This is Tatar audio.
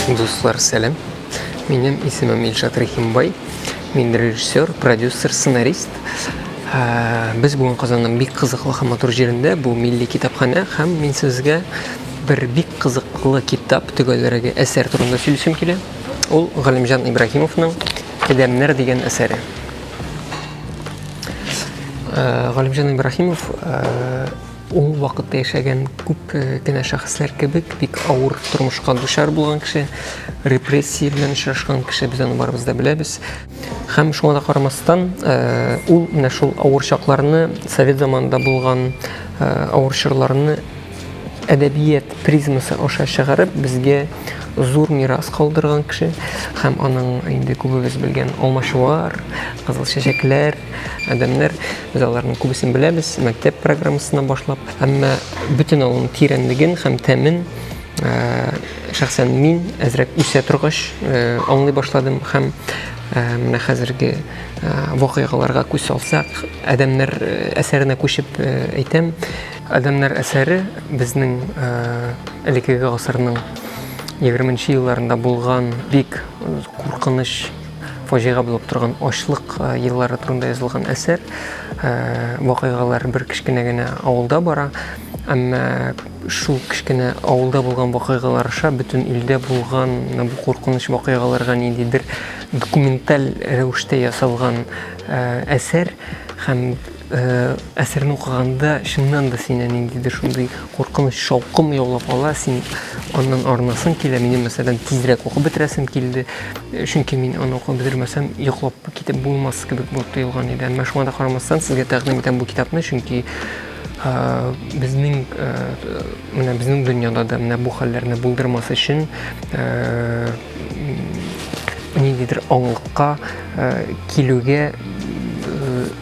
Дуслар, сәлем. Минем исемем Илшат Рахимбай. Мин режиссер, продюсер, сценарист. Ә, без бүгін Казанның бик кызыклы һәм матур җирендә, бу милли китапханә һәм мин сезгә бер бик кызыклы китап, төгәлрәге әсәр турында сөйлисем килә. Ул Галимҗан Ибраһимовның Адәмнәр дигән әсәре. Э, Галимҗан Ибраһимов э, ул вакытта яшәгән күп э, кенә шәхесләр кебек бик авыр тормышка дучар булган кеше, репрессия белән очрашкан кеше без аны барыбыз да беләбез. Һәм шуңа да карамастан, ул менә шул авыр чакларны, совет заманында булган авыр чорларны әдәбият призмасы аша чыгарып, безгә зур мирас калдырган кеше һәм аның инде күбебез белгән алмачуар, кызыл чәчәкләр, адәмнәр, без аларның күбесен беләбез, мәктәп программасына башлап, әмма бөтен аның тирәнлеген һәм тәмен э, шәхсән мин әзрәк үсә торгач э, аңлый башладым һәм э, менә хәзерге вакыйгаларга күз салсак, адәмнәр әсәренә күчеп әйтәм, Адәмнәр әсәре безнең элекеге гасырның 20 нче елларында булган бик куркыныч фаҗига булып торган ачлык еллары турында язылган әсәр. Вакыйгалар бер кечкенә генә авылда бара, әмма шул кечкенә авылда булган вакыйгалар аша бөтен илдә булган бу куркыныч вакыйгаларга ниндидер документаль рәвештә ясалган әсәр һәм Әсәрне укыганда чыннан да сине ниндидер шундый куркыныч шаукым яулап ала, син аннан арынасың килә. Минем мәсәлән тизрәк укып бетерәсем килде, чөнки мин аны укып бетермәсәм, йоклап китеп булмас кебек булып тоелган иде. Әмма шуңа да карамастан сезгә тәкъдим итәм бу китапны, чөнки безнең менә безнең дөньяда да менә бу хәлләрне булдырмас өчен ниндидер аңлыкка килүгә